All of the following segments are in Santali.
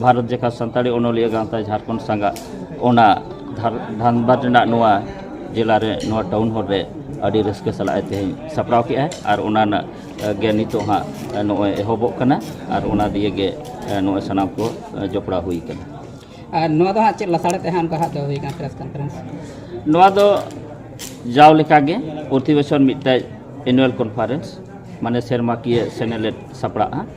ᱵᱷᱟᱨᱚᱛ ᱡᱟᱠᱟᱛ ᱥᱟᱱᱛᱟᱲᱤ ᱚᱱᱚᱞᱤᱭᱟᱹ ᱜᱟᱶᱛᱟ ᱡᱷᱟᱲᱠᱷᱚᱸᱰ ᱥᱟᱸᱜᱟᱜ ᱚᱱᱟ ᱫᱷᱟᱱᱵᱟᱫᱽ ᱨᱮᱱᱟᱜ ᱱᱚᱣᱟ ᱡᱮᱞᱟ ᱨᱮ ᱱᱚᱣᱟ ᱴᱟᱣᱩᱱ ᱦᱚᱞ ᱨᱮ ᱟᱹᱰᱤ ᱨᱟᱹᱥᱠᱟᱹ ᱥᱟᱞᱟᱜ ᱮ ᱛᱮᱦᱮᱧ ᱥᱟᱯᱲᱟᱣ ᱠᱮᱜᱼᱟ ᱟᱨ ᱚᱱᱟ ᱨᱮᱱᱟᱜ ᱜᱮ ᱱᱤᱛᱚᱜ ᱦᱟᱸᱜ ᱱᱚᱜᱼᱚᱭ ᱮᱦᱚᱵᱚᱜ ᱠᱟᱱᱟ ᱟᱨ ᱚᱱᱟ ᱫᱤᱭᱮ ᱜᱮ ᱱᱚᱜᱼᱚᱭ ᱥᱟᱱᱟᱢ ᱠᱚ ᱡᱚᱯᱲᱟᱣ ᱦᱩᱭ ᱠᱟᱱᱟ ᱟᱨ ᱱᱚᱣᱟ ᱫᱚ ᱦᱟᱸᱜ ᱪᱮᱫ ᱞᱟᱥᱟᱲᱦᱮᱫ ᱛᱮ ᱦᱟᱸᱜ ᱚᱱᱠᱟ ᱦᱟᱸᱜ ᱫᱚ ᱦᱩᱭ ᱠᱟᱱᱟ ᱯᱨᱮᱥ ᱠᱚᱱᱯᱷᱟᱨᱮᱱᱥ ᱱᱚᱣᱟ ᱫᱚ ᱡᱟᱣ ᱞᱮᱠᱟᱜᱮ ᱯᱨᱚᱛᱤ ᱵᱚᱪᱷᱚᱨ ᱢᱤᱫᱴᱮᱡ ᱮᱱᱩᱭᱟᱞ ᱠᱚᱱᱯᱷᱟᱨᱮᱱᱥ ᱢᱟᱱᱮ ᱥᱮᱨᱢᱟᱠᱤᱭᱟᱹ ᱥᱮᱱᱮᱞᱮᱫ ᱥᱟᱯᱲᱟᱜᱼᱟ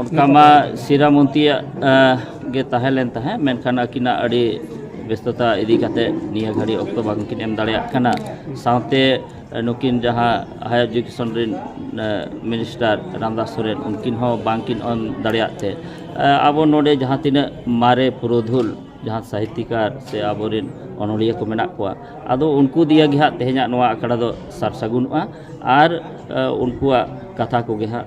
ᱚᱱᱠᱟ ᱢᱟ ᱥᱤᱨᱟ ᱢᱚᱱᱛᱤᱭᱟᱜ ᱜᱮ ᱛᱟᱦᱮᱸ ᱞᱮᱱ ᱛᱟᱦᱮᱸᱫ ᱢᱮᱱᱠᱷᱟᱱ ᱟᱹᱠᱤᱱᱟᱜ ᱟᱹᱰᱤ ᱵᱮᱥᱛᱚᱛᱟ ᱤᱫᱤ ᱠᱟᱛᱮ ᱱᱤᱭᱟᱹ ᱜᱷᱟᱹᱲᱤᱡ ᱚᱠᱛᱚ ᱵᱟᱝᱠᱤᱱ ᱮᱢ ᱫᱟᱲᱮᱭᱟᱜ ᱠᱟᱱᱟ ᱥᱟᱶᱛᱮ ᱱᱩᱠᱤᱱ ᱡᱟᱦᱟᱸ ᱦᱟᱭᱟᱨ ᱮᱰᱩᱠᱮᱥᱚᱱ ᱨᱮᱱ ᱢᱤᱱᱤᱥᱴᱟᱨ ᱨᱟᱢᱫᱟᱥ ᱥᱚᱨᱮᱱ ᱩᱱᱠᱤᱱ ᱦᱚᱸ ᱵᱟᱝᱠᱤᱱ ᱮᱢ ᱫᱟᱲᱮᱭᱟᱜ ᱛᱮ ᱟᱵᱚ ᱱᱚᱰᱮ ᱡᱟᱦᱟᱸ ᱛᱤᱱᱟᱹᱜ ᱢᱟᱨᱮ ᱯᱩᱨᱩᱫᱷᱩᱞ ᱡᱟᱦᱟᱸ ᱥᱟᱦᱤᱛᱤᱠᱟᱨ ᱥᱮ ᱟᱵᱚᱨᱮᱱ ᱚᱱᱚᱞᱤᱭᱟᱹ ᱠᱚ ᱢᱮᱱᱟᱜ ᱠᱚᱣᱟ ᱟᱫᱚ ᱩᱱᱠᱩ ᱫᱤᱭᱮ ᱜᱮ ᱦᱟᱸᱜ ᱛᱮᱦᱮᱧᱟᱜ ᱱᱚᱣᱟ ᱟᱠᱷᱲᱟ ᱫᱚ ᱥᱟᱨ ᱥᱟᱹᱜᱩᱱᱚᱜᱼᱟ ᱟᱨ ᱩᱱᱠᱩᱣᱟᱜ ᱠᱟᱛᱷᱟ ᱠᱚᱜᱮ ᱦᱟᱸᱜ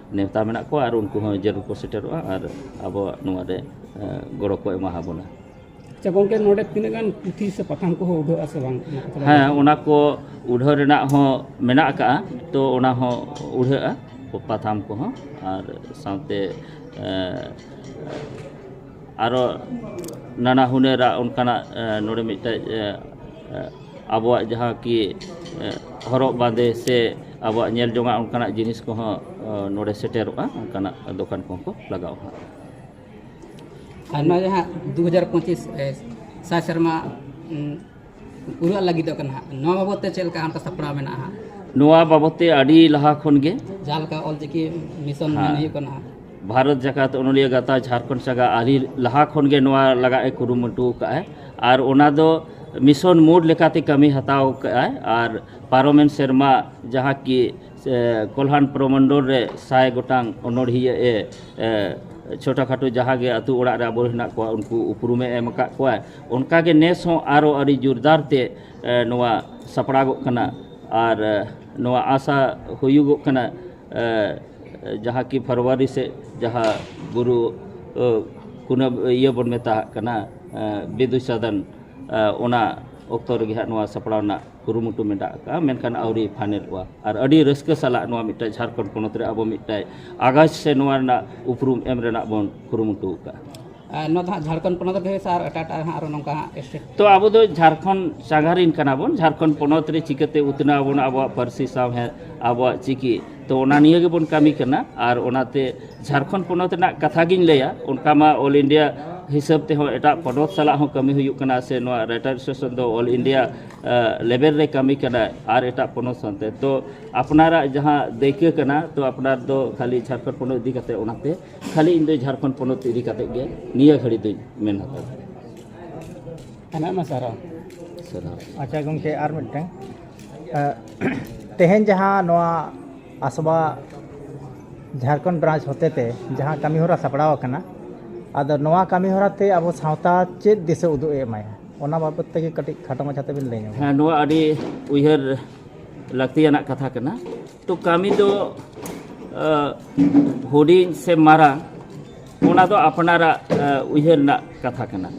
ᱱᱮᱣᱛᱟ ᱢᱮᱱᱟᱜ ᱠᱚᱣᱟ ᱟᱨ ᱩᱱᱠᱩ ᱦᱚᱸ ᱡᱟᱹᱨᱩᱲ ᱠᱚ ᱥᱮᱴᱮᱨᱚᱜᱼᱟ ᱟᱨ ᱟᱵᱚᱣᱟᱜ ᱱᱚᱣᱟ ᱨᱮ ᱜᱚᱲᱚ ᱠᱚ ᱮᱢᱟ ᱟᱵᱚᱱᱟ ᱟᱪᱪᱷᱟ ᱜᱚᱝᱠᱮ ᱱᱚᱰᱮ ᱛᱤᱱᱟᱹᱜ ᱜᱟᱱ ᱯᱩᱛᱷᱤ ᱥᱮ ᱯᱟᱛᱷᱟᱢ ᱠᱚᱦᱚᱸ ᱩᱰᱷᱟᱹᱜᱼᱟ ᱥᱮ ᱵᱟᱝ ᱦᱮᱸ ᱚᱱᱟ ᱠᱚ ᱩᱰᱷᱟᱹᱣ ᱨᱮᱱᱟᱜ ᱦᱚᱸ ᱢᱮᱱᱟᱜ ᱟᱠᱟᱜᱼᱟ ᱛᱚ ᱚᱱᱟ ᱦᱚᱸ ᱩᱰᱷᱟᱹᱜᱼᱟ ᱯᱟᱛᱷᱟᱢ ᱠᱚᱦᱚᱸ ᱟᱨ ᱥᱟᱶᱛᱮ ᱟᱨᱚ ᱱᱟᱱᱟ ᱦᱩᱱᱟᱹᱨᱟᱜ ᱚᱱᱠᱟᱱᱟᱜ ᱱᱚᱰᱮ ᱢᱤᱫᱴᱮᱡ ᱟᱵᱚᱣᱟᱜ ᱡᱟᱦᱟᱸ ᱠᱤ ᱦᱚᱨᱚᱜ ᱵᱟᱸᱫᱮ ᱥᱮ ᱟᱵᱚᱣᱟᱜ ᱧᱮᱞ ᱡᱚᱝᱟᱜ ᱚᱱᱠᱟᱱᱟᱜ ᱡᱤᱱᱤᱥ ᱠᱚᱦᱚᱸ ᱱᱚᱰᱮ ᱥᱮᱴᱮᱨᱚᱜᱼᱟ ᱚᱱᱠᱟᱱᱟᱜ ᱫᱚᱠᱟᱱ ᱠᱚᱦᱚᱸ ᱠᱚ ᱞᱟᱜᱟᱣᱟ ᱦᱟᱸᱜ ᱟᱨ ᱱᱚᱣᱟ ᱡᱟᱦᱟᱸ ᱫᱩ ᱦᱟᱡᱟᱨ ᱯᱚᱸᱪᱤᱥ ᱥᱟᱭ ᱥᱮᱨᱢᱟ ᱯᱩᱨᱟᱹᱜ ᱞᱟᱹᱜᱤᱫᱚᱜ ᱠᱟᱱᱟ ᱦᱟᱸᱜ ᱱᱚᱣᱟ ᱵᱟᱵᱚᱫ ᱛᱮ ᱪᱮᱫ ᱞᱮᱠᱟ ᱚᱱᱠᱟ ᱥᱟᱯᱲᱟᱣ ᱢᱮᱱᱟᱜᱼᱟ ᱦᱟᱸᱜ ᱱᱚᱣᱟ ᱵᱟᱵᱚᱫ ᱛᱮ ᱟᱹᱰᱤ ᱞᱟᱦᱟ ᱠᱷᱚᱱ ᱜᱮ ᱡᱟᱦᱟᱸ ᱞᱮᱠᱟ ᱚᱞᱪᱤᱠᱤ ᱢᱤᱥᱚᱱ ᱢᱮᱱ ᱦᱩᱭᱩᱜ ᱠᱟᱱᱟ ᱦᱟᱸᱜ ᱵᱷᱟᱨᱚᱛ ᱡᱟᱠᱟᱛ ᱚᱱᱚᱞᱤᱭᱟᱹ ᱜᱟᱶᱛᱟ ᱡᱷᱟᱲᱠᱷᱚᱸᱰ ᱥᱟᱜᱟ ᱟᱹᱰᱤ ᱞᱟᱦᱟ ᱠᱷᱚᱱ ᱜᱮ ᱱᱚᱣᱟ ᱞᱟᱜᱟᱜ ᱮ ᱠᱩᱨᱩᱢᱩᱴᱩ ᱟᱠᱟᱫᱼᱟᱭ ᱟᱨ ᱚᱱᱟ ᱫᱚ ᱢᱤᱥᱚᱱ ᱢᱳᱰ ᱞᱮᱠᱟᱛᱮ ᱠᱟᱹᱢᱤ ᱦᱟᱛᱟᱣ ᱟᱠᱟᱫᱼᱟᱭ ᱟᱨ ᱯᱟᱨᱚᱢᱮᱱ ᱥᱮᱨᱢᱟ ᱡᱟᱦᱟᱸ ᱠᱤ ᱠᱚᱞᱦᱟᱱ ᱯᱨᱚᱢᱚᱱᱰᱚᱞ ᱨᱮ ᱥᱟᱭ ᱜᱚᱴᱟᱝ ᱚᱱᱚᱲᱦᱤᱭᱟᱹ ᱮ ᱪᱷᱳᱴᱟ ᱠᱷᱟᱴᱳ ᱡᱟᱦᱟᱸ ᱜᱮ ᱟᱹᱛᱩ ᱚᱲᱟᱜ ᱨᱮ ᱟᱵᱚ ᱦᱮᱱᱟᱜ ᱠᱚᱣᱟ ᱩᱱᱠᱩ ᱩᱯᱨᱩᱢᱮ ᱮᱢ ᱟᱠᱟᱫ ᱠᱚᱣᱟᱭ ᱚᱱᱠᱟ ᱜᱮ ᱱᱮᱥ ᱦᱚᱸ ᱟᱨᱚ ᱟᱹᱰᱤ ᱡᱳᱨᱫᱟᱨ ᱛᱮ ᱱᱚᱣᱟ ᱥᱟᱯᱲᱟᱜᱚᱜ ᱠᱟᱱᱟ ᱟᱨ ᱱᱚᱣᱟ ᱟᱥᱟ ᱦᱩᱭᱩᱜᱚᱜ ᱠᱟᱱᱟ ᱡᱟᱦᱟᱸ ᱠᱤ ᱯᱷᱮᱵᱽᱨᱩᱣᱟᱨᱤ ᱥᱮᱫ ᱡᱟᱦᱟᱸ ᱵᱩᱨᱩ ᱠᱩᱱᱟᱹᱢᱤ ᱤᱭᱟᱹ ᱵᱚᱱ ᱢᱮᱛᱟᱣᱟᱜ ᱠᱟᱱᱟ ᱵᱤᱫᱩ ᱪᱟᱸᱫᱟᱱ ᱚᱱᱟ ᱚᱠᱛᱚ ᱨᱮᱜᱮ ᱦᱟᱸᱜ ᱱᱚᱣᱟ ᱥᱟᱯᱲᱟᱣ ᱨᱮᱱᱟᱜ ᱠᱩᱨᱩᱢᱩᱴᱩ ᱢᱮᱱᱟᱜ ᱠᱟᱜᱼᱟ ᱢᱮᱱᱠᱷᱟᱱ ᱟᱹᱣᱨᱤ ᱯᱷᱟᱭᱱᱮᱞᱚᱜᱼᱟ ᱟᱨ ᱟᱹᱰᱤ ᱨᱟᱹᱥᱠᱟᱹ ᱥᱟᱞᱟᱜ ᱱᱚᱣᱟ ᱢᱤᱫᱴᱟᱝ ᱡᱷᱟᱲᱠᱷᱚᱸᱰ ᱯᱚᱱᱚᱛ ᱨᱮ ᱟᱵᱚ ᱢᱤᱫᱴᱟᱝ ᱟᱜᱟᱪᱷ ᱥᱮ ᱱᱚᱣᱟ ᱨᱮᱱᱟᱜ ᱩᱯᱨᱩᱢ ᱮᱢ ᱨᱮᱱᱟᱜ ᱵᱚᱱ ᱠᱩᱨᱩᱢᱩᱴᱩ ᱠᱟᱜᱼᱟ ᱱᱚᱣᱟ ᱫᱚ ᱦᱟᱸᱜ ᱡᱷᱟᱲᱠᱷᱚᱸᱰ ᱯᱚᱱᱚᱛ ᱨᱮ ᱰᱷᱮᱨ ᱥᱮ ᱟᱨ ᱮᱴᱟᱜ ᱮᱴᱟᱜ ᱦᱟᱸᱜ ᱟᱨᱚ ᱱᱚᱝᱠᱟ ᱦᱟᱸᱜ ᱥᱴᱮᱴ ᱛᱚ ᱟᱵᱚ ᱫᱚ ᱡᱷᱟᱲᱠᱷᱚᱸᱰ ᱥᱟᱸᱜᱷᱟᱨᱤᱱ ᱠᱟᱱᱟ ᱵᱚᱱ ᱡᱷᱟᱲᱠᱷᱚᱸᱰ ᱯᱚᱱᱚᱛ ᱨᱮ ᱪᱤᱠᱟᱹᱛᱮ ᱩᱛᱱᱟᱹᱣ ᱟᱵᱚᱱ ᱟᱵᱚᱣᱟᱜ ᱯᱟᱹᱨᱥᱤ ᱥᱟᱶᱦᱮᱫ ᱟᱵᱚᱣᱟᱜ ᱪᱤᱠᱤ ᱛᱚ ᱚᱱᱟ ᱱᱤᱭᱟᱹ ᱜᱮᱵᱚᱱ ᱠᱟᱹᱢᱤ ᱠᱟᱱᱟ ᱟᱨ ᱚᱱᱟᱛᱮ ᱡᱷᱟᱲᱠᱷᱚᱸᱰ ᱯᱚᱱᱚᱛ ᱨᱮᱱᱟᱜ ᱠᱟᱛᱷᱟ ᱜᱤᱧ ᱞᱟᱹᱭᱟ ᱚᱱᱠᱟ ᱢᱟ ᱚᱞ ᱤᱱᱰᱤᱭᱟ ᱦᱤᱥᱟᱹᱵ ᱛᱮᱦᱚᱸ ᱮᱴᱟᱜ ᱯᱚᱱᱚᱛ ᱥᱟᱞᱟᱜ ᱦᱚᱸ ᱠᱟᱹᱢᱤ ᱦᱩᱭᱩᱜ ᱠᱟᱱᱟ ᱥᱮ ᱱᱚᱣᱟ ᱨᱟᱭᱴᱟᱨ ᱮᱥᱳᱥᱤᱭᱮᱥᱚᱱ ᱫᱚ ᱚᱞ ᱤᱱᱰᱤᱭᱟ ᱞᱮᱵᱮᱞ ᱨᱮ ᱠᱟᱹᱢᱤ ᱠᱟᱱᱟ ᱟᱨ ᱮᱴᱟᱜ ᱯᱚᱱᱚᱛ ᱥᱟᱶᱛᱮ ᱛᱚ ᱟᱯᱱᱟᱨᱟᱜ ᱡᱟᱦᱟᱸ ᱫᱟᱹᱭᱠᱟᱹ ᱠᱟᱱᱟ ᱛᱚ ᱟᱯᱱᱟᱨ ᱫᱚ ᱠᱷᱟᱹᱞᱤ ᱡᱷᱟᱲᱠᱷᱚᱸᱰ ᱯᱚᱱᱚᱛ ᱤᱫᱤ ᱠᱟᱛᱮ ᱚᱱᱟᱛᱮ ᱠᱷᱟᱹᱞᱤ ᱤᱧ ᱫᱚ ᱡᱷᱟᱲᱠᱷᱚᱸᱰ ᱯᱚᱱᱚᱛ ᱤᱫᱤ ᱠᱟᱛᱮ ᱜᱮ ᱱᱤᱭᱟᱹ ᱜᱷᱟᱹᱲᱤ ᱫᱚᱧ ᱢᱮᱱ ᱦᱟᱛᱟᱲ ᱟᱭᱢᱟ ᱥᱟᱨᱦᱟᱣ ᱥᱟᱨᱦᱟᱣ ᱟᱪᱪᱷᱟ ᱜᱚᱢᱠᱮ ᱟᱨ ᱢᱤᱫᱴᱟᱝ ᱛᱮᱦᱮᱧ ᱡᱟᱦᱟᱸ ᱱᱚᱣᱟ ᱟᱥᱵᱟ ᱡᱷᱟᱲᱠᱷᱚᱸᱰ ᱵᱨᱟᱸᱪ ᱦᱚᱛᱮᱛᱮ ᱡᱟᱦᱟᱸ ᱠᱟᱹᱢᱤ ᱦᱚᱨᱟ ᱥᱟᱯᱲᱟᱣ ᱟᱠᱟᱱᱟ ᱟᱫᱚ ᱱᱚᱣᱟ ᱠᱟᱹᱢᱤ ᱦᱚᱨᱟ ᱛᱮ ᱟᱵᱚ ᱥᱟᱶᱛᱟ ᱪᱮᱫ ᱫᱤᱥᱟᱹ ᱩᱫᱩᱜ ᱮ ᱮᱢᱟᱭᱟ ᱚᱱᱟ ᱵᱟᱵᱚᱛ ᱛᱮᱜᱮ ᱠᱟᱹᱴᱤᱡ ᱠᱷᱟᱴᱚ ᱢᱟᱪᱷᱟ ᱛᱮᱵᱤᱱ ᱞᱟᱹᱭ ᱧᱚᱜ ᱦᱮᱸ ᱱᱚᱣᱟ ᱟᱹᱰᱤ ᱩᱭᱦᱟᱹᱨ ᱞᱟᱹᱠᱛᱤᱭᱟᱱᱟᱜ ᱠᱟᱛᱷᱟ ᱠᱟᱱᱟ ᱛᱚ ᱠᱟᱹᱢᱤ ᱫᱚ ᱦᱩᱰᱤᱧ ᱥᱮ ᱢᱟᱨᱟᱝ ᱚᱱᱟ ᱫᱚ ᱟᱯᱱᱟᱨᱟᱜ ᱩᱭᱦᱟᱹᱨ ᱨᱮᱱᱟᱜ ᱠᱟᱛᱷᱟ ᱠᱟᱱᱟ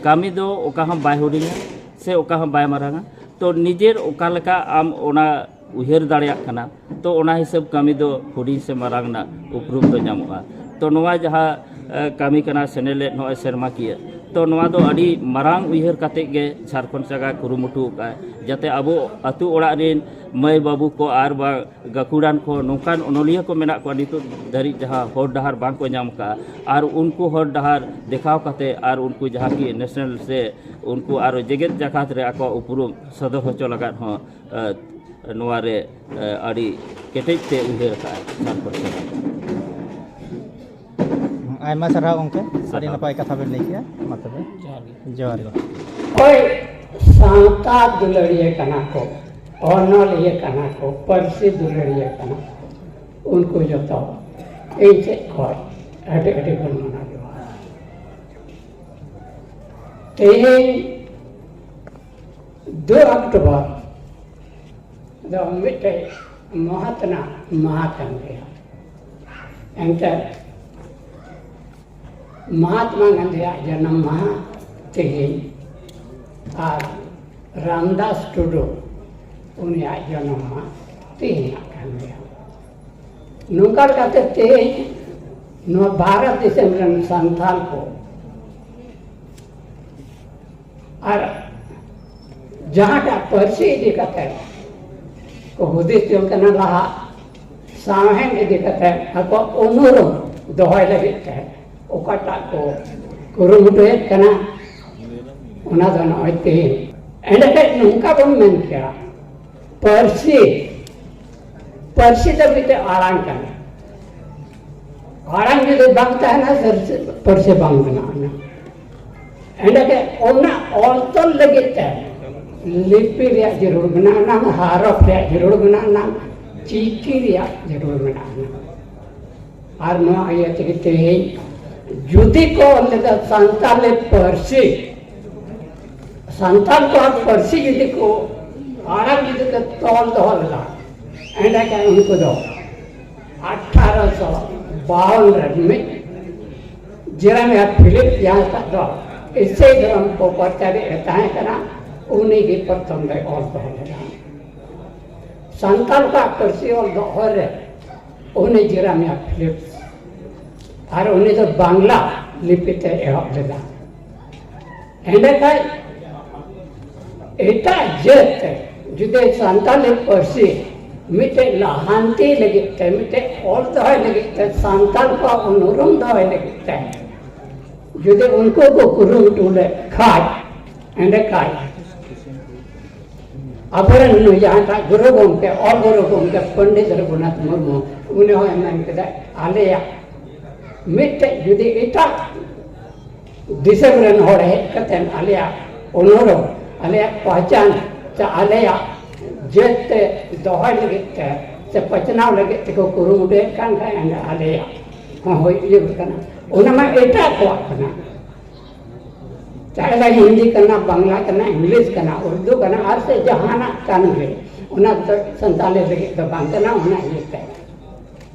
ᱠᱟᱹᱢᱤ ᱫᱚ ᱚᱠᱟ ᱦᱚᱸ ᱵᱟᱭ ᱦᱩᱰᱤᱧᱟ ᱥᱮ ᱚᱠᱟ ᱦᱚᱸ ᱵᱟᱭ ᱢᱟᱨᱟᱝᱟ ᱛᱚ ᱱᱤᱡᱮᱨ ᱚᱠᱟ ᱞᱮᱠᱟ ᱟᱢ ᱚᱱᱟ ᱩᱭᱦᱟᱹᱨ ᱫᱟᱲᱮᱭᱟᱜ ᱠᱟᱱᱟ ᱛᱚ ᱚᱱᱟ ᱦᱤᱥᱟᱹᱵ ᱠᱟᱹᱢᱤ ᱫᱚ ᱦᱩᱰᱤᱧ ᱥᱮ ᱢᱟᱨᱟᱝ ᱨᱮᱱᱟᱜ ᱩᱯᱨᱩᱢ ᱫᱚ ᱧᱟᱢᱚᱜᱼᱟ ᱛᱚ ᱱᱚᱣᱟ ᱡᱟᱦᱟᱸ ᱠᱟᱹᱢᱤ ᱠᱟᱱᱟ ᱥᱮᱱᱮᱞᱮᱫ ᱱᱚᱜᱼᱚᱭ ᱥᱮᱨᱢᱟ ᱠᱤᱭᱟᱹ ᱛᱚ ᱱᱚᱣᱟ ᱫᱚ ᱟᱹᱰᱤ ᱢᱟᱨᱟᱝ ᱩᱭᱦᱟᱹᱨ ᱠᱟᱛᱮ ᱜᱮ ᱡᱷᱟᱲᱠᱷᱚᱸᱰ ᱥᱟᱜᱟᱲ ᱠᱩᱨᱩᱢᱩᱴᱩ ᱟᱠᱟᱫᱼᱟᱭ ᱡᱟᱛᱮ ᱟᱵᱚ ᱟᱛᱳ ᱚᱲᱟᱜ ᱨᱮᱱ ᱢᱟᱹᱭ ᱵᱟᱹᱵᱩ ᱠᱚ ᱟᱨ ᱵᱟᱝ ᱜᱟᱹᱠᱷᱩᱲᱟᱱ ᱠᱚ ᱱᱚᱝᱠᱟᱱ ᱚᱱᱚᱞᱤᱭᱟᱹ ᱠᱚ ᱢᱮᱱᱟᱜ ᱠᱚᱣᱟ ᱱᱤᱛᱚᱜ ᱫᱷᱟᱹᱨᱤᱡ ᱡᱟᱦᱟᱸ ᱦᱚᱨ ᱰᱟᱦᱟᱨ ᱵᱟᱝ ᱠᱚ ᱧᱟᱢ ᱠᱟᱜᱼᱟ ᱟᱨ ᱩᱱᱠᱩ ᱦᱚᱨ ᱰᱟᱦᱟᱨ ᱫᱮᱠᱷᱟᱣ ᱠᱟᱛᱮ ᱟᱨ ᱩᱱᱠᱩ ᱡᱟᱦᱟᱸ ᱠᱤ ᱱᱮᱥᱱᱮᱞ ᱥᱮ ᱩᱱᱠᱩ ᱟᱨ ᱡᱮᱜᱮᱛ ᱡᱟᱠᱟᱛ ᱨᱮ ᱟᱠᱚᱣᱟᱜ ᱩᱯᱨᱩᱢ ᱥᱚᱫᱚᱨ ᱦᱚᱪᱚ ᱞᱟᱜᱟᱫ ᱦᱚᱸ ᱱᱚᱣᱟ ᱨᱮ ᱟᱹᱰᱤ ᱠᱮᱴᱮᱡ ᱛᱮ ᱩᱭᱦᱟᱹᱨ ᱠᱟᱜᱼᱟᱭ ᱥᱟᱨ ᱯᱟᱹᱨᱥᱤ ᱟᱭᱢᱟ ᱥᱟᱨᱦᱟᱣ ᱜᱚᱝᱠᱮ ᱟᱹᱰᱤ ᱱᱟᱯᱟᱭ ᱠᱟᱛᱷᱟ ᱵᱮᱱ ᱞᱟᱹᱭ ᱠᱮᱜᱼᱟ ᱢᱟ ᱛᱚᱵᱮ ᱡᱚᱦᱟᱨ ᱜᱮ ᱚᱠᱚᱭ ᱥᱟᱶᱛᱟ ᱫᱩᱞᱟᱹᱲᱤᱭᱟᱹ ᱠᱟᱱᱟ ᱠᱚ ᱚᱱᱚᱞᱤᱭᱟᱹ ᱠᱟᱱᱟ ᱠᱚ ᱯᱟᱹᱨᱥᱤ ᱫᱩᱞᱟᱹᱲᱤᱭᱟᱹ ᱠᱟᱱᱟ ᱠᱚ ᱩᱱᱠᱩ ᱡᱚᱛᱚ ᱤᱧ ᱥᱮᱫ ᱠᱷᱚᱱ ᱟᱹᱰᱤ ᱟᱹᱰᱤ ᱵᱚᱱ ᱢᱟᱱᱟᱣ ᱡᱚᱦᱟᱨ ᱛᱮᱦᱮᱧ ᱫᱩ ᱚᱠᱴᱳᱵᱚᱨ ᱫᱚ ᱢᱤᱫᱴᱮᱡ ᱢᱚᱦᱚᱛᱱᱟ ᱢᱟᱦᱟ ᱠᱟᱱ ᱜᱮᱭᱟ ᱮᱱᱛᱮᱫ ᱢᱚᱦᱟᱛᱢᱟ ᱜᱟᱱᱫᱷᱤᱭᱟᱜ ᱡᱟᱱᱟᱢ ᱢᱟᱦᱟ ᱛᱮᱦᱮᱧ ᱟᱨ ᱨᱟᱢᱫᱟᱥ ᱴᱩᱰᱩ ᱩᱱᱤᱭᱟᱜ ᱡᱟᱱᱟᱢ ᱢᱟᱦᱟ ᱛᱮᱦᱮᱧᱟᱜ ᱠᱟᱱ ᱜᱮᱭᱟ ᱱᱚᱝᱠᱟ ᱞᱮᱠᱟᱛᱮ ᱛᱮᱦᱮᱧ ᱱᱚᱣᱟ ᱵᱷᱟᱨᱚᱛ ᱫᱤᱥᱚᱢ ᱨᱮᱱ ᱥᱟᱱᱛᱟᱞ ᱠᱚ ᱟᱨ ᱡᱟᱦᱟᱸᱴᱟᱜ ᱯᱟᱹᱨᱥᱤ ᱤᱫᱤ ᱠᱟᱛᱮ ᱠᱚ ᱦᱩᱫᱤᱥ ᱡᱚᱝ ᱠᱟᱱᱟ ᱞᱟᱦᱟ ᱥᱟᱶᱦᱮᱫ ᱤᱫᱤ ᱠᱟᱛᱮ ᱟᱠᱚᱣᱟᱜ ᱩᱱᱩᱨᱩᱢ ᱫᱚᱦᱚᱭ ᱞᱟᱹᱜᱤᱫ ᱛᱮ ᱚᱠᱟᱴᱟᱜ ᱠᱚ ᱠᱩᱨᱩᱢᱩᱴᱩᱭᱮᱫ ᱠᱟᱱᱟ ᱚᱱᱟ ᱫᱚ ᱱᱚᱜᱼᱚᱭ ᱛᱮᱦᱮᱧ ᱮᱸᱰᱮᱠᱷᱟᱱ ᱱᱚᱝᱠᱟ ᱵᱚᱱ ᱢᱮᱱ ᱠᱮᱭᱟ ᱯᱟᱹᱨᱥᱤ ᱯᱟᱹᱨᱥᱤ ᱫᱚ ᱢᱤᱫᱴᱮᱱ ᱟᱲᱟᱝ ᱠᱟᱱᱟ ᱟᱲᱟᱝ ᱡᱩᱫᱤ ᱵᱟᱝ ᱛᱟᱦᱮᱱᱟ ᱯᱟᱹᱨᱥᱤ ᱵᱟᱝ ᱵᱮᱱᱟᱜᱼᱟ ᱮᱸᱰᱮᱜᱮ ᱚᱱᱟ ᱚᱞ ᱛᱚᱞ ᱞᱟᱹᱜᱤᱫ ᱛᱮ ᱞᱤᱯᱤ ᱨᱮᱭᱟᱜ ᱡᱟᱹᱨᱩᱲ ᱢᱮᱱᱟᱜᱼᱟ ᱱᱟᱝ ᱦᱟᱨᱚᱯ ᱨᱮᱭᱟᱜ ᱡᱟᱹᱨᱩᱲ ᱢᱮᱱᱟᱜᱼᱟ ᱱᱟᱝ ᱪᱤᱠᱤ ᱨᱮᱭᱟᱜ ᱡᱟᱹᱨᱩᱲ ᱢᱮᱱᱟᱜᱼᱟ ᱱᱟᱝ ᱟᱨ ᱱᱚᱣᱟ ᱤᱭᱟᱹ ᱛᱮᱜᱮ ᱛᱮᱦᱮᱧ ᱡᱩᱫᱤ ᱠᱚ ᱚᱞ ᱞᱮᱫᱟ ᱥᱟᱱᱛᱟᱲᱤ ᱯᱟᱹᱨᱥᱤ ᱥᱟᱱᱛᱟᱲ ᱠᱚᱣᱟᱜ ᱯᱟᱹᱨᱥᱤ ᱡᱩᱫᱤ ᱠᱚ ᱟᱲᱟᱝ ᱡᱩᱫᱤ ᱠᱚ ᱛᱚᱞ ᱫᱚᱦᱚ ᱞᱮᱫᱟ ᱮᱸᱰᱮᱠᱷᱟᱱ ᱩᱱᱠᱩ ᱫᱚ ᱟᱴᱷᱟᱨᱚᱥᱚ ᱵᱟᱣᱱ ᱨᱮ ᱢᱤᱫ ᱡᱮᱨᱮᱢᱤᱭᱟ ᱯᱷᱤᱞᱤᱯ ᱡᱟᱦᱟᱸᱭ ᱴᱟᱜ ᱫᱚ ᱤᱥᱟᱹᱭ ᱫᱷᱚᱨᱚᱢ ᱠᱚ ᱯᱨᱚᱪᱟᱨᱮᱫ ᱮ ᱛᱟᱦᱮᱸ ᱠᱟᱱᱟ ᱩᱱᱤ ᱜᱮ ᱯᱨᱚᱛᱷᱚᱢ ᱫᱚᱭ ᱚᱞ ᱫᱚᱦᱚ ᱞᱮᱫᱟ ᱥᱟᱱᱛᱟᱲ ᱠᱚᱣᱟᱜ ᱯᱟᱹᱨᱥᱤ ᱚᱞ ᱫᱚᱦᱚ ᱨᱮ ᱩᱱᱤ ᱡᱮᱨᱮᱢᱤᱭᱟ ᱯᱷᱤᱞᱤᱯ ᱟᱨ ᱩᱱᱤ ᱫᱚ ᱵᱟᱝᱞᱟ ᱞᱤᱯᱤ ᱛᱮᱭ ᱮᱦᱚᱵ ᱞᱮᱫᱟ ᱮᱸᱰᱮᱠᱷᱟᱡ ᱮᱴᱟᱜ ᱡᱟᱹᱛ ᱡᱩᱫᱤ ᱥᱟᱱᱛᱟᱞᱤ ᱯᱟᱹᱨᱥᱤ ᱢᱤᱫᱴᱮᱡ ᱞᱟᱦᱟᱱᱛᱤ ᱞᱟᱹᱜᱤᱫ ᱛᱮ ᱢᱤᱫᱴᱮᱡ ᱚᱞ ᱫᱚᱦᱚᱭ ᱞᱟᱹᱜᱤᱫ ᱛᱮ ᱥᱟᱱᱛᱟᱞ ᱠᱚᱣᱟᱜ ᱩᱱᱩᱨᱩᱢ ᱫᱚᱦᱚᱭ ᱞᱟᱹᱜᱤᱫ ᱛᱮ ᱡᱩᱫᱤ ᱩᱱᱠᱩ ᱠᱚ ᱠᱩᱨᱩᱢᱩᱴᱩ ᱞᱮᱫ ᱠᱷᱟᱡ ᱮᱸᱰᱮᱠᱷᱟᱡ ᱟᱵᱚᱨᱮᱱ ᱱᱩᱭ ᱡᱟᱦᱟᱸᱴᱟᱜ ᱜᱩᱨᱩ ᱜᱚᱢᱠᱮ ᱚᱞ ᱜᱩᱨᱩ ᱜᱚᱢᱠᱮ ᱯᱚᱱᱰᱤᱛ ᱨᱚᱜᱷᱩᱱᱟᱛᱷ ᱢᱩᱨᱢᱩ ᱩᱱᱤ ᱦᱚᱸᱭ ᱢᱮᱱ ᱠᱮᱫᱟ ᱟᱞᱮᱭᱟᱜ ᱢᱤᱫᱴᱮᱡ ᱡᱩᱫᱤ ᱮᱴᱟᱜ ᱫᱤᱥᱚᱢ ᱨᱮᱱ ᱦᱚᱲ ᱦᱮᱡ ᱠᱟᱛᱮ ᱟᱞᱮᱭᱟᱜ ᱚᱱᱚᱲᱚ ᱟᱞᱮᱭᱟᱜ ᱯᱟᱦᱪᱟᱱ ᱥᱮ ᱟᱞᱮᱭᱟᱜ ᱡᱟᱹᱛ ᱛᱮ ᱫᱚᱦᱚᱭ ᱞᱟᱹᱜᱤᱫ ᱛᱮ ᱥᱮ ᱯᱟᱥᱱᱟᱣ ᱞᱟᱹᱜᱤᱫ ᱛᱮᱠᱚ ᱠᱩᱨᱩᱢᱩᱴᱩᱭᱮᱫ ᱠᱟᱱ ᱠᱷᱟᱡ ᱮᱸᱰᱮ ᱟᱞᱮᱭᱟᱜ ᱦᱚᱸ ᱦᱩᱭ ᱤᱭᱟᱹ ᱠᱟᱱᱟ ᱚᱱᱟ ᱢᱟ ᱮᱴᱟᱜ ᱠᱚᱣᱟᱜ ᱠᱟᱱᱟ ᱪᱟᱦᱮ ᱦᱤᱱᱫᱤ ᱠᱟᱱᱟ ᱵᱟᱝᱞᱟ ᱠᱟᱱᱟ ᱤᱝᱞᱤᱥ ᱠᱟᱱᱟ ᱩᱨᱫᱩ ᱠᱟᱱᱟ ᱟᱨ ᱥᱮ ᱡᱟᱦᱟᱱᱟᱜ ᱠᱟᱱ ᱜᱮ ᱚᱱᱟ ᱫᱚ ᱥᱟᱱᱛᱟᱲᱤ ᱞᱟᱹᱜᱤᱫ ᱫᱚ ᱵᱟᱝ ᱠᱟᱱᱟ ᱚᱱᱟ ᱤᱭᱟᱹᱛᱮ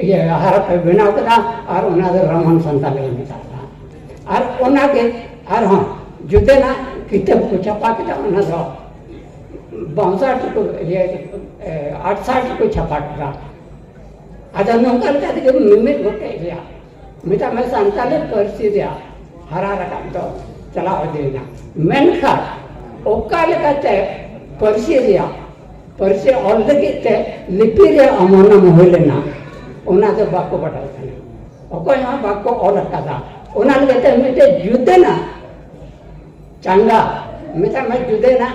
ᱤᱭᱟᱹ ᱟᱦᱟᱨ ᱯᱮ ᱵᱮᱱᱟᱣ ᱠᱮᱫᱟ ᱟᱨ ᱚᱱᱟ ᱫᱚ ᱨᱟᱢᱟᱱ ᱥᱟᱱᱛᱟᱞᱮ ᱢᱮᱛᱟᱜ ᱠᱟᱱᱟ ᱟᱨ ᱚᱱᱟᱜᱮ ᱟᱨᱦᱚᱸ ᱡᱩᱫᱟᱹᱱᱟᱜ ᱠᱤᱛᱟᱹᱵ ᱠᱚ ᱪᱷᱟᱯᱟ ᱠᱮᱫᱟ ᱚᱱᱟ ᱫᱚ ᱵᱟᱝᱥᱟᱴ ᱠᱚ ᱤᱭᱟᱹ ᱟᱴᱥᱟᱴ ᱠᱚ ᱪᱷᱟᱯᱟ ᱠᱮᱫᱟ ᱟᱫᱚ ᱱᱚᱝᱠᱟ ᱞᱮᱠᱟ ᱛᱮᱜᱮ ᱢᱤᱢᱤᱫ ᱜᱚᱴᱮᱡ ᱨᱮᱭᱟᱜ ᱢᱮᱛᱟᱜ ᱢᱮ ᱥᱟᱱᱛᱟᱞᱤ ᱯᱟᱹᱨᱥᱤ ᱨᱮᱭᱟᱜ ᱦᱟᱨᱟ ᱨᱟᱠᱟᱵ ᱫᱚ ᱪᱟᱞᱟᱣ ᱤᱫᱤᱭᱮᱱᱟ ᱢᱮᱱᱠᱷᱟᱱ ᱚᱠᱟ ᱞᱮᱠᱟᱛᱮ ᱯᱟᱹᱨᱥᱤ ᱨᱮᱭᱟᱜ ᱯᱟᱹᱨᱥᱤ ᱚᱞ ᱞᱟᱹᱜᱤᱫ ᱛᱮ ᱞᱤᱯᱤ ᱨᱮᱭᱟᱜ ᱚᱢᱚᱱᱚᱢ ᱦᱩᱭ ᱞᱮᱱᱟ ᱚᱱᱟ ᱫᱚ ᱵᱟᱠᱚ ᱵᱟᱰᱟᱭ ᱠᱟᱱᱟ ᱚᱠᱚᱭ ᱦᱚᱸ ᱵᱟᱠᱚ ᱚᱞ ᱟᱠᱟᱫᱟ ᱚᱱᱟ ᱞᱮᱠᱟᱛᱮ ᱢᱤᱫᱴᱮᱡ ᱡᱩᱫᱟᱹᱱᱟᱜ ᱪᱟᱸᱜᱟ ᱢᱮᱛᱟᱜ ᱢᱮ ᱡᱩᱫᱟᱹᱱᱟᱜ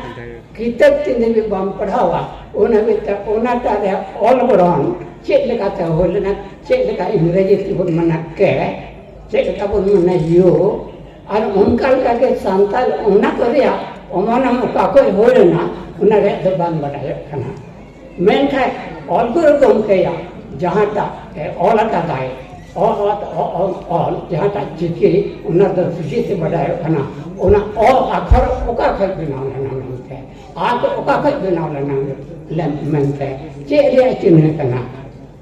ᱠᱤᱛᱟᱹᱵ ᱛᱤᱱ ᱫᱷᱟᱹᱵᱤᱡ ᱵᱟᱢ ᱯᱟᱲᱦᱟᱣᱟ ᱩᱱ ᱦᱟᱹᱵᱤᱡ ᱛᱮ ᱚᱱᱟᱴᱟᱜ ᱨᱮᱭᱟᱜ ᱚᱞ ᱜᱚᱲᱦᱚᱱ ᱪᱮᱫ ᱞᱮᱠᱟᱛᱮ ᱦᱩᱭ ᱞᱮᱱᱟ ᱪᱮᱫ ᱞᱮᱠᱟ ᱤᱝᱨᱮᱡᱤ ᱛᱮᱵᱚᱱ ᱢᱮᱱᱟ ᱠᱮ ᱪᱮᱫ ᱞᱮᱠᱟ ᱵᱚᱱ ᱢᱮᱱᱟ ᱭᱳ ᱟᱨ ᱚᱱᱠᱟ ᱞᱮᱠᱟᱜᱮ ᱥᱟᱱᱛᱟᱲ ᱚᱱᱟ ᱠᱚ ᱨᱮᱭᱟᱜ ᱚᱢᱚᱱᱚᱢ ᱚᱠᱟ ᱠᱚᱭ ᱦᱩᱭ ᱞᱮᱱᱟ ᱚᱱᱟ ᱨᱮᱭᱟᱜ ᱫᱚ ᱵᱟᱝ ᱵᱟᱰᱟᱭᱚᱜ ᱠᱟᱱᱟ ᱢᱮᱱᱠᱷᱟᱱ ᱚᱞ ᱜᱩᱨᱩ ᱜᱚᱢᱠᱮᱭᱟᱜ ᱡᱟᱦᱟᱸᱴᱟᱜ ᱮ ᱚᱞ ᱟᱠᱟᱫᱟᱭ ᱚᱞ ᱚᱛ ᱚᱞ ᱚᱞ ᱡᱟᱦᱟᱸᱴᱟᱜ ᱪᱤᱠᱤ ᱚᱱᱟ ᱫᱚ ᱥᱩᱡᱤ ᱛᱮ ᱵᱟᱰᱟᱭᱚᱜ ᱠᱟᱱᱟ ᱚᱱᱟ ᱚᱞ ᱟᱠᱷᱚᱨ ᱚᱠᱟ ᱠᱷᱚᱱ ᱵᱮᱱᱟᱣ ᱞᱮᱱᱟ ᱢᱮᱱᱛᱮ ᱟᱨ ᱚᱠᱟ ᱠᱷᱚᱱ ᱵᱮᱱᱟᱣ ᱞᱮᱱᱟ ᱢᱮᱱᱛᱮ ᱪᱮᱫ ᱨᱮᱭᱟᱜ ᱪᱤᱱᱦᱟᱹ ᱠᱟᱱᱟ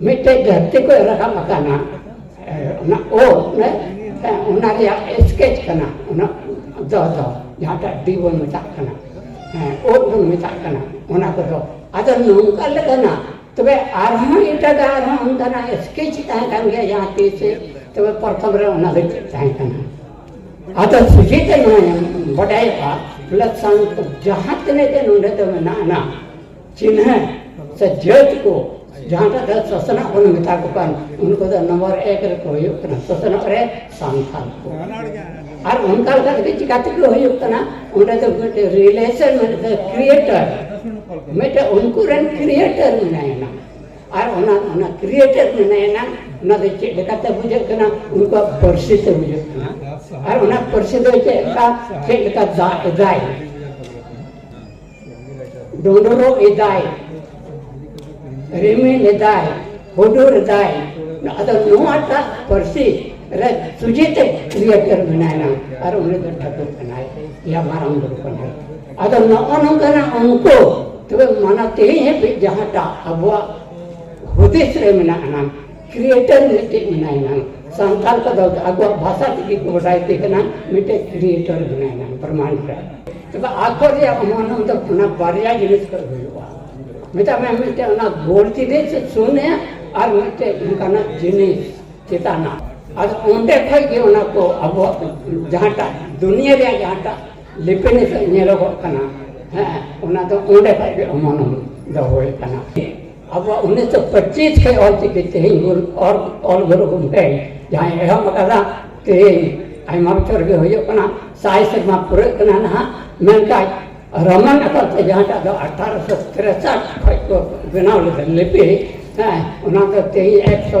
ᱢᱤᱫᱴᱮᱡ ᱫᱷᱟᱹᱨᱛᱤ ᱠᱚ ᱨᱟᱠᱟᱵ ᱟᱠᱟᱱᱟ ᱚᱱᱟ ᱳ ᱚᱱᱟ ᱨᱮᱭᱟᱜ ᱥᱠᱮᱪ ᱠᱟᱱᱟ ᱚᱱᱟ ᱫᱚ ᱫᱚ ᱡᱟᱦᱟᱸᱴᱟᱜ ᱰᱤ ᱵᱚᱱ ᱢᱮᱛᱟᱜ ᱠᱟᱱᱟ ᱳ ᱵᱚᱱ ᱢᱮᱛᱟᱜ ᱠᱟᱱᱟ ᱚᱱᱟ ᱠᱚᱫᱚ ᱟᱫᱚ ᱱᱚᱝᱠᱟ ᱞᱮᱠᱟᱱᱟᱜ ᱛᱚᱵᱮ ᱟᱨᱦᱚᱸ ᱮᱴᱟᱜᱟᱜ ᱟᱨᱦᱚᱸ ᱚᱱᱠᱟᱱᱟᱜ ᱥᱠᱮᱪ ᱛᱟᱦᱮᱸ ᱠᱟᱱ ᱜᱮᱭᱟ ᱡᱟᱦᱟᱸ ᱛᱤᱥ ᱛᱚᱵᱮ ᱯᱨᱚᱛᱷᱚᱢ ᱨᱮ ᱚᱱᱟ ᱫᱚ ᱪᱮᱫ ᱛᱟᱦᱮᱸ ᱠᱟᱱᱟ ᱟᱫᱚ ᱥᱚᱡᱷᱮᱛᱮ ᱱᱚᱣᱟ ᱵᱟᱰᱟᱭᱚᱜᱼᱟ ᱵᱚᱞᱮ ᱥᱟᱱ ᱡᱟᱦᱟᱸ ᱛᱤᱱᱟᱹᱜ ᱜᱮ ᱱᱚᱰᱮ ᱫᱚ ᱢᱮᱱᱟᱜᱼᱟ ᱪᱤᱱᱦᱟᱹ ᱥᱮ ᱡᱟᱹᱛ ᱠᱚ ᱡᱟᱦᱟᱸᱴᱟᱜ ᱫᱚ ᱥᱚᱥᱱᱚᱜ ᱵᱚᱱ ᱢᱮᱛᱟ ᱠᱚ ᱠᱟᱱ ᱩᱱᱠᱩ ᱫᱚ ᱱᱚᱢᱵᱚᱨ ᱮᱠ ᱨᱮᱠᱚ ᱦᱩᱭᱩᱜ ᱠᱟᱱᱟ ᱥᱚᱥᱱᱚᱜ ᱨᱮ ᱥᱟᱱᱛᱟᱲ ᱠᱚ ᱟᱨ ᱚᱱᱠᱟ ᱞᱮᱠᱟ ᱛᱮᱜᱮ ᱪᱤᱠᱟ ᱛᱮᱠᱚ ᱦᱩᱭᱩᱜ ᱠᱟᱱᱟ ᱚᱸᱰᱮ ᱫᱚ ᱢᱤᱫᱴᱮᱡ ᱨᱤᱞᱮᱥᱚᱱ ᱢᱤᱫᱴᱮᱡ ᱠᱨᱤᱭᱮᱴᱚᱨ ᱢᱤᱫᱴᱮᱡ ᱩᱱᱠᱩ ᱨᱮᱱ ᱠᱨᱤᱭᱮᱴᱚᱨ ᱢᱮᱱᱟᱭᱮᱱᱟ ᱟᱨ ᱚᱱᱟ ᱚᱱᱟ ᱠᱨᱤᱭᱮᱴᱚᱨ ᱢᱮᱱᱟᱭᱮᱱᱟ ᱚᱱᱟ ᱫᱚ ᱪᱮᱫ ᱞᱮᱠᱟᱛᱮ ᱵᱩᱡᱷᱟᱹᱜ ᱠᱟᱱᱟ ᱩᱱᱠᱩᱣᱟᱜ ᱯᱟᱹᱨᱥᱤ ᱛᱮ ᱵᱩᱡᱷᱟᱹᱜ ᱠᱟᱱᱟ ᱟᱨ ᱚᱱᱟ ᱯᱟᱹᱨᱥᱤ ᱫᱚ ᱪᱮᱫ ᱞᱮᱠᱟ ᱪᱮᱫ ᱞᱮᱠᱟ ᱫᱟᱜ ᱮᱫᱟᱭ ᱰᱚᱸᱰᱚᱨᱚᱜ ᱮᱫᱟᱭ ᱨᱤᱢᱤᱞ ᱮᱫᱟᱭ ᱦᱩᱰᱩᱨ ᱮᱫᱟᱭ ᱟᱫᱚ ᱱᱚᱣᱟᱴᱟᱜ ᱯᱟᱹᱨᱥᱤ ᱨᱮ ᱥᱩᱡᱮᱛᱮ ᱠᱨᱤᱭᱮᱴᱚᱨ ᱢᱮᱱᱟᱭᱟ ᱟᱨ ᱩᱱᱤ ᱫᱚ ᱴᱷᱟᱹᱠᱩᱨ ᱠᱟᱱᱟᱭ ᱭᱟ ᱢᱟᱨᱟᱝ ᱵᱩᱨᱩ ᱠᱟᱱᱟᱭ ᱟᱫᱚ ᱱᱚᱜᱼᱚ ᱱᱚᱝᱠᱟᱱᱟᱜ ᱩᱱᱠᱩ ᱛᱚᱵᱮ ᱢᱟᱱᱟ ᱛᱮᱦᱮᱧ ᱦᱟᱹᱵᱤᱡ ᱡᱟᱦᱟᱸᱴᱟᱜ ᱟᱵᱚᱣᱟᱜ ᱦᱩᱫᱤᱥ ᱨᱮ ᱢᱮᱱᱟᱜ ᱟᱱᱟᱝ ᱠᱨᱤᱭᱮᱴᱟᱨ ᱢᱤᱫᱴᱮᱡ ᱢᱮᱱᱟᱭ ᱱᱟᱝ ᱥᱟᱱᱛᱟᱲ ᱠᱚᱫᱚ ᱟᱠᱚᱣᱟᱜ ᱵᱷᱟᱥᱟ ᱛᱮᱜᱮ ᱠᱚ ᱵᱟᱰᱟᱭ ᱛᱮ ᱠᱟᱱᱟ ᱢᱤᱫᱴᱮᱡ ᱠᱨᱤᱭᱮᱴᱟᱨ ᱢᱮᱱᱟᱭ ᱱᱟᱝ ᱵᱨᱟᱦᱢᱟᱱᱰ ᱨᱮ ᱛᱚᱵᱮ ᱟᱠᱚ ᱨᱮᱭᱟᱜ ᱢᱚᱱᱚ ᱫᱚ ᱚᱱᱟ ᱵᱟᱨᱭᱟ ᱡᱤᱱᱤᱥ ᱠᱚ ᱦᱩᱭᱩᱜᱼᱟ ᱢᱮᱛᱟᱜ ᱢᱮ ᱢᱤᱫᱴᱮᱡ ᱚᱱᱟ ᱜᱳᱞ ᱡᱤᱱᱤᱥ ᱥᱩᱱᱮ ᱟᱨ ᱢᱤᱫᱴᱮᱡ ᱚᱱᱠᱟᱱᱟᱜ ᱡᱤᱱᱤᱥ ᱪᱮᱛᱟᱱᱟᱜ ᱟᱫᱚ ᱚᱸᱰᱮ ᱠᱷᱚᱡ ᱜᱮ ᱚᱱᱟ ᱠᱚ ᱟᱵᱚᱣᱟᱜ ᱡᱟᱦᱟᱸᱴᱟᱜ ᱫᱩᱱᱤᱭᱟᱹ ᱨᱮᱭᱟᱜ ᱡᱟᱦᱟᱸᱴᱟᱜ ᱞᱤᱯᱤᱱ ᱧᱮᱞᱚᱜᱚᱜ ᱠᱟᱱᱟ ᱦᱮᱸ ᱚᱱᱟ ᱫᱚ ᱚᱸᱰᱮ ᱠᱷᱚᱡ ᱜᱮ ᱚᱢᱚᱱᱚᱢ ᱫᱚ ᱦᱩᱭ ᱠᱟᱱᱟ ᱟᱵᱚᱣᱟᱜ ᱩᱱᱤᱥᱥᱚ ᱯᱚᱸᱪᱤᱥ ᱠᱷᱚᱱ ᱚᱞ ᱪᱤᱠᱤ ᱛᱮᱦᱮᱧ ᱵᱚᱱ ᱚᱞ ᱚᱞ ᱜᱩᱨᱩ ᱜᱚᱢᱠᱮ ᱡᱟᱦᱟᱸᱭ ᱮᱦᱚᱵ ᱟᱠᱟᱫᱟ ᱛᱮᱦᱮᱧ ᱟᱭᱢᱟ ᱵᱚᱪᱷᱚᱨ ᱜᱮ ᱦᱩᱭᱩᱜ ᱠᱟᱱᱟ ᱥᱟᱭ ᱥᱮᱨᱢᱟ ᱯᱩᱨᱟᱹᱜ ᱠᱟᱱᱟ ᱱᱟᱦᱟᱜ ᱢᱮᱱᱠᱷᱟᱱ ᱨᱚᱢᱟᱱ ᱟᱠᱟᱨ ᱛᱮ ᱡᱟᱦᱟᱸᱴᱟᱜ ᱫᱚ ᱟᱴᱷᱟᱨᱚᱥᱚ ᱛᱨᱮᱥᱟᱴ ᱠᱷᱚᱱ ᱠᱚ ᱵᱮᱱᱟᱣ ᱞᱮᱫᱟ ᱞᱤᱯᱤ ᱦᱮᱸ ᱚᱱᱟ ᱫᱚ ᱛᱮᱦᱮᱧ ᱮᱠᱥᱚ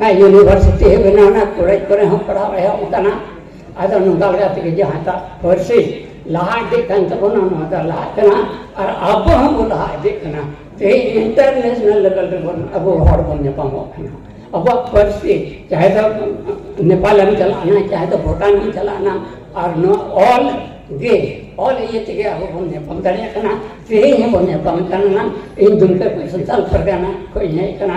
ᱦᱮᱸ ᱤᱭᱩᱱᱤᱵᱷᱟᱨᱥᱤᱴᱤ ᱦᱚᱸ ᱵᱮᱱᱟᱣ ᱮᱱᱟ ᱠᱚᱞᱮᱡᱽ ᱠᱚᱨᱮ ᱦᱚᱸ ᱯᱟᱲᱦᱟᱣ ᱮᱦᱚᱵ ᱟᱠᱟᱱᱟ ᱟᱫᱚ ᱱᱚᱝᱠᱟ ᱞᱮᱠᱟ ᱛᱮᱜᱮ ᱡᱟᱦᱟᱸᱴᱟᱜ ᱯᱟᱹᱨᱥᱤ ᱞᱟᱦᱟ ᱤᱫᱤᱜ ᱠᱟᱱ ᱛᱟᱵᱚᱱᱟ ᱱᱚᱣᱟ ᱫᱚ ᱞᱟᱦᱟᱜ ᱠᱟᱱᱟ ᱟᱨ ᱟᱵᱚ ᱦᱚᱸᱵᱚ ᱞᱟᱦᱟ ᱤᱫᱤᱜ ᱠᱟᱱᱟ ᱛᱮᱦᱮᱧ ᱤᱱᱴᱟᱨᱱᱮᱥᱱᱟᱞ ᱞᱮᱵᱮᱞ ᱨᱮᱵᱚᱱ ᱟᱵᱚ ᱦᱚᱲ ᱵᱚᱱ ᱧᱟᱯᱟᱢᱚᱜ ᱠᱟᱱᱟ ᱟᱵᱚᱣᱟᱜ ᱯᱟᱹᱨᱥᱤ ᱪᱟᱦᱮ ᱫᱚ ᱱᱮᱯᱟᱞᱮᱢ ᱪᱟᱞᱟᱜᱼᱟ ᱪᱟᱦᱮ ᱫᱚ ᱵᱷᱩᱴᱟᱱᱮᱢ ᱪᱟᱞᱟᱜᱼᱟ ᱟᱨ ᱱᱚᱣᱟ ᱚᱞ ᱜᱮ ᱚᱞ ᱤᱭᱟᱹ ᱛᱮᱜᱮ ᱟᱵᱚ ᱵᱚᱱ ᱧᱟᱯᱟᱢ ᱫᱟᱲᱮᱭᱟᱜ ᱠᱟᱱᱟ ᱛᱮᱦᱮᱧ ᱦᱚᱸᱵᱚᱱ ᱧᱟᱯᱟᱢ ᱠᱟᱱᱟ ᱤᱧ ᱫᱩᱢᱠᱟᱹ ᱠᱷᱚᱱ ᱥᱟᱱᱛᱟᱞ ᱯᱟᱨᱜᱟᱱᱟ ᱠᱷᱚᱱ ᱤᱧ ᱦᱮᱡ ᱟᱠᱟᱱᱟ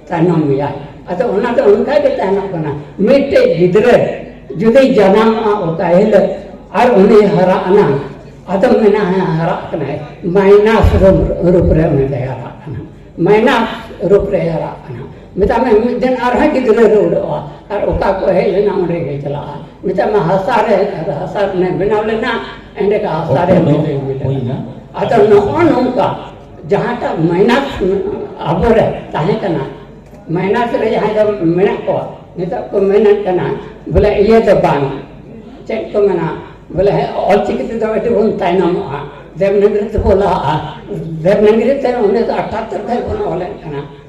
ᱛᱟᱭᱱᱚᱢ ᱜᱮᱭᱟ ᱟᱫᱚ ᱚᱱᱟ ᱫᱚ ᱚᱱᱠᱟ ᱜᱮ ᱛᱟᱦᱮᱱᱚᱜ ᱠᱟᱱᱟ ᱢᱤᱫᱴᱮᱡ ᱜᱤᱫᱽᱨᱟᱹ ᱡᱩᱫᱤ ᱡᱟᱱᱟᱢᱚᱜᱼᱟ ᱚᱠᱟ ᱦᱤᱞᱳᱜ ᱟᱨ ᱩᱱᱤ ᱦᱟᱨᱟ ᱟᱱᱟ ᱟᱫᱚ ᱢᱮᱱᱟ ᱦᱮᱸ ᱦᱟᱨᱟᱜ ᱠᱟᱱᱟᱭ ᱢᱟᱭᱱᱟᱥ ᱨᱩᱯ ᱨᱮ ᱩᱱᱤ ᱫᱚᱭ ᱦᱟᱨᱟᱜ ᱠᱟᱱᱟ ᱢᱟᱭᱱᱟᱥ ᱨᱩᱯ ᱨᱮ ᱦᱟᱨᱟᱜ ᱠᱟᱱᱟ ᱢᱮᱛᱟᱜ ᱢᱮ ᱢᱤᱫ ᱫᱤᱱ ᱟᱨᱦᱚᱸ ᱜᱤᱫᱽᱨᱟᱹ ᱨᱮ ᱩᱰᱟᱹᱜᱼᱟ ᱟᱨ ᱚᱠᱟ ᱠᱚ ᱦᱮᱡ ᱞᱮᱱᱟ ᱚᱸᱰᱮ ᱜᱮ ᱪᱟᱞᱟᱜᱼᱟ ᱢᱮᱛᱟᱜ ᱢᱮ ᱦᱟᱥᱟ ᱨᱮ ᱦᱟᱥᱟ ᱨᱮ ᱵᱮᱱᱟᱣ ᱞᱮᱱᱟ ᱮᱸᱰᱮ ᱦᱟᱥᱟ ᱨᱮ ᱟᱫᱚ ᱱᱚᱜᱼᱚ ᱱᱚᱝᱠᱟ ᱡᱟᱦᱟᱸᱴᱟᱜ ᱢᱟᱭᱱᱟᱥ ᱟᱵᱚᱨᱮ ᱛᱟᱦᱮᱸ ᱠᱟᱱᱟ ᱢᱟᱭᱱᱟᱥ ᱨᱮ ᱡᱟᱦᱟᱸᱭ ᱫᱚ ᱢᱮᱱᱟᱜ ᱠᱚᱣᱟ ᱱᱤᱛᱚᱜ ᱠᱚ ᱢᱮᱱᱮᱫ ᱠᱟᱱᱟ ᱵᱚᱞᱮ ᱤᱭᱟᱹ ᱫᱚ ᱵᱟᱝ ᱪᱮᱫ ᱠᱚ ᱢᱮᱱᱟ ᱵᱚᱞᱮ ᱚᱞᱪᱤᱠᱤ ᱛᱮᱫᱚ ᱟᱹᱰᱤ ᱵᱚᱱ ᱛᱟᱭᱱᱚᱢᱚᱜᱼᱟ ᱫᱮᱵᱽᱱᱟᱜᱚᱨᱤ ᱛᱮᱵᱚᱱ ᱞᱟᱦᱟᱜᱼᱟ ᱫᱮᱵᱽᱱᱟᱜᱚᱨᱤ ᱛᱮ ᱩᱱᱤ ᱫᱚ ᱟᱴᱷᱟᱛᱛᱳᱨ ᱠᱷᱚᱱ ᱵᱚᱱ ᱚᱞᱮᱫ ᱠᱟᱱᱟ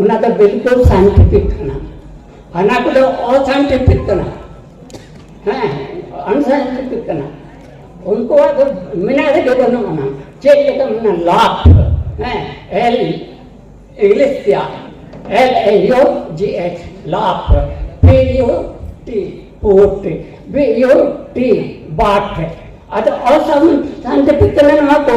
ᱚᱱᱟ ᱫᱚ ᱵᱤᱞᱠᱩᱞ ᱥᱟᱭᱮᱱᱴᱤᱯᱷᱤᱠ ᱠᱟᱱᱟ ᱦᱟᱱᱟ ᱠᱚᱫᱚ ᱚᱥᱟᱭᱮᱱᱴᱤᱯᱷᱤᱠ ᱠᱟᱱᱟ ᱦᱮᱸ ᱟᱱᱥᱟᱭᱮᱱᱴᱤᱯᱷᱤᱠ ᱠᱟᱱᱟ ᱩᱱᱠᱩᱣᱟᱜ ᱫᱚ ᱢᱮᱱᱟᱜ ᱨᱮᱜᱮ ᱵᱟᱹᱱᱩᱜ ᱟᱱᱟ ᱪᱮᱫ ᱞᱮᱠᱟ ᱢᱮᱱᱟ ᱞᱟᱵᱷ ᱦᱮᱸ ᱮᱞ ᱤᱝᱞᱤᱥ ᱛᱮᱭᱟᱜ L A U G H ᱞᱟᱵᱷ P U T put B U T but ᱟᱫᱚ ᱚᱥᱟᱭᱮᱱᱴᱤᱯᱷᱤᱠ ᱠᱟᱱᱟ ᱱᱚᱣᱟ ᱠᱚ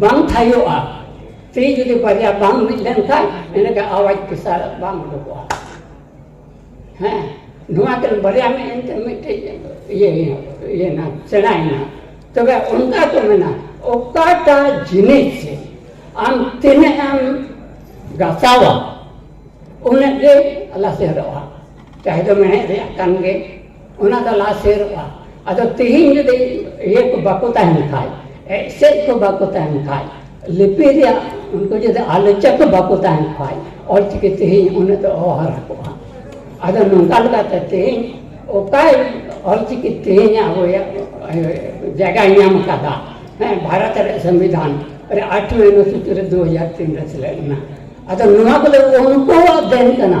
ᱵᱟᱝ ᱛᱷᱟᱭᱚᱜᱼᱟ ᱛᱤ ᱡᱩᱫᱤ ᱵᱟᱨᱭᱟ ᱵᱟᱝ ᱢᱤᱫ ᱞᱮᱱᱠᱷᱟᱱ ᱮᱱᱮᱠᱷᱟᱱ ᱟᱣᱟᱡᱽ ᱯᱮᱥᱟ ᱵᱟᱝ ᱩᱰᱩᱠᱚᱜᱼᱟ ᱦᱮᱸ ᱱᱚᱣᱟ ᱠᱤᱱ ᱵᱟᱨᱭᱟ ᱢᱤᱫ ᱮᱱᱛᱮ ᱢᱤᱫᱴᱮᱡ ᱤᱭᱟᱹ ᱤᱭᱟᱹᱭᱮᱱᱟ ᱥᱮᱬᱟᱭᱮᱱᱟ ᱛᱚᱵᱮ ᱚᱱᱠᱟ ᱠᱚ ᱢᱮᱱᱟ ᱚᱠᱟᱴᱟᱜ ᱡᱤᱱᱤᱥ ᱟᱢ ᱛᱤᱱᱟᱹᱜ ᱮᱢ ᱜᱟᱥᱟᱣᱟ ᱩᱱᱟᱹᱜ ᱜᱮ ᱞᱟᱥᱮᱨᱚᱜᱼᱟ ᱪᱟᱦᱮ ᱫᱚ ᱢᱮᱬᱦᱮᱫ ᱨᱮᱭᱟᱜ ᱠᱟᱱ ᱜᱮ ᱚᱱᱟ ᱫᱚ ᱞᱟᱦᱟ ᱥᱮᱨᱚᱜᱼᱟ ᱟᱫᱚ ᱛᱮᱦᱮᱧ ᱡᱩᱫᱤ ᱤᱭᱟᱹ ᱠᱚ ᱵᱟᱠᱚ ᱛᱟᱦᱮᱱ ᱠᱷᱟᱡ ᱮᱥᱮᱫ ᱠᱚ ᱵᱟᱠᱚ ᱛᱟᱦᱮᱱ ᱠᱷᱟᱡ ᱞᱤᱯᱤ ᱨᱮᱭᱟᱜ ᱩᱱᱠᱩ ᱡᱩᱫᱤ ᱟᱞᱳᱪᱟ ᱠᱚ ᱵᱟᱠᱚ ᱛᱟᱦᱮᱱ ᱠᱷᱟᱡ ᱚᱞᱪᱤᱠᱤ ᱛᱮᱦᱮᱧ ᱩᱱᱟᱹᱜ ᱫᱚ ᱚᱦᱟᱨᱟ ᱠᱚᱜᱼᱟ ᱟᱫᱚ ᱱᱚᱝᱠᱟ ᱞᱮᱠᱟᱛᱮ ᱛᱮᱦᱮᱧ ᱚᱠᱟᱭ ᱚᱞᱪᱤᱠᱤ ᱛᱮᱦᱮᱧ ᱟᱵᱚᱭᱟᱜ ᱡᱟᱭᱜᱟᱭ ᱧᱟᱢ ᱠᱟᱫᱟ ᱦᱮᱸ ᱵᱷᱟᱨᱚᱛ ᱨᱮᱭᱟᱜ ᱥᱚᱝᱵᱤᱫᱷᱟᱱ ᱨᱮ ᱟᱴᱷᱩ ᱚᱱᱩᱥᱩᱪᱤ ᱨᱮ ᱫᱩ ᱦᱟᱡᱟᱨ ᱛᱤᱱ ᱨᱮ ᱥᱮᱞᱮᱫ ᱞᱮᱱᱟ ᱟᱫᱚ ᱱᱚᱣᱟ ᱠᱚᱫᱚ ᱩᱱᱠᱩᱣᱟᱜ ᱫᱮᱱ ᱠᱟᱱᱟ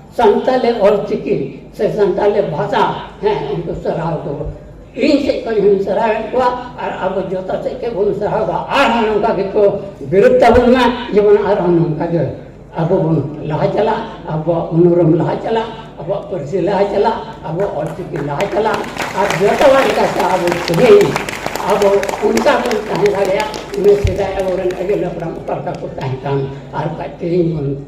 ᱥᱟᱱᱛᱟᱞᱤ ᱚᱞ ᱪᱤᱠᱤ ᱥᱮ ᱥᱟᱱᱛᱟᱞᱤ ᱵᱷᱟᱥᱟ ᱦᱮᱸ ᱩᱱᱠᱩ ᱥᱟᱨᱦᱟᱣ ᱠᱚ ᱤᱧ ᱥᱮᱫ ᱠᱷᱚᱱ ᱦᱚᱧ ᱥᱟᱨᱦᱟᱣᱮᱫ ᱠᱚᱣᱟ ᱟᱨ ᱟᱵᱚ ᱡᱚᱛᱚ ᱥᱮᱫ ᱠᱷᱚᱱ ᱵᱚᱱ ᱥᱟᱨᱦᱟᱣᱫᱟ ᱟᱨᱦᱚᱸ ᱱᱚᱝᱠᱟ ᱜᱮᱠᱚ ᱵᱤᱨᱳᱫ ᱛᱟᱵᱚᱱ ᱢᱟ ᱡᱮᱢᱚᱱ ᱟᱨᱦᱚᱸ ᱱᱚᱝᱠᱟ ᱜᱮ ᱟᱵᱚ ᱵᱚᱱ ᱞᱟᱦᱟ ᱪᱟᱞᱟᱜ ᱟᱵᱚᱣᱟᱜ ᱩᱱᱩᱨᱩᱢ ᱞᱟᱦᱟ ᱪᱟᱞᱟᱜ ᱟᱵᱚᱣᱟᱜ ᱯᱟᱹᱨᱥᱤ ᱞᱟᱦᱟ ᱪᱟᱞᱟᱜ ᱟᱵᱚᱣᱟᱜ ᱚᱞ ᱪᱤᱠᱤ ᱞᱟᱦᱟ ᱪᱟᱞᱟᱜ ᱟᱨ ᱡᱚᱛᱚ ᱦᱚᱲ ᱞᱮᱠᱟᱛᱮ ᱟᱵᱚ ᱛᱮᱦᱮᱧ ᱟᱵᱚ ᱚᱱᱠᱟ ᱵᱚᱱ ᱛᱟᱦᱮᱸ ᱫᱟᱲᱮᱭᱟᱜ ᱤᱱᱟᱹ ᱥᱮᱫᱟᱭ ᱟᱵᱚᱨᱮᱱ ᱟᱹᱜᱤᱞ ᱦᱟᱯᱲᱟᱢ ᱚᱠᱟ ᱞᱮᱠᱟ ᱠᱚ ᱛᱟᱦᱮᱸ ᱠᱟᱱ ᱟᱨ ᱵᱟᱠᱷᱟᱡ ᱛᱮᱦᱮᱧ ᱵᱚᱱ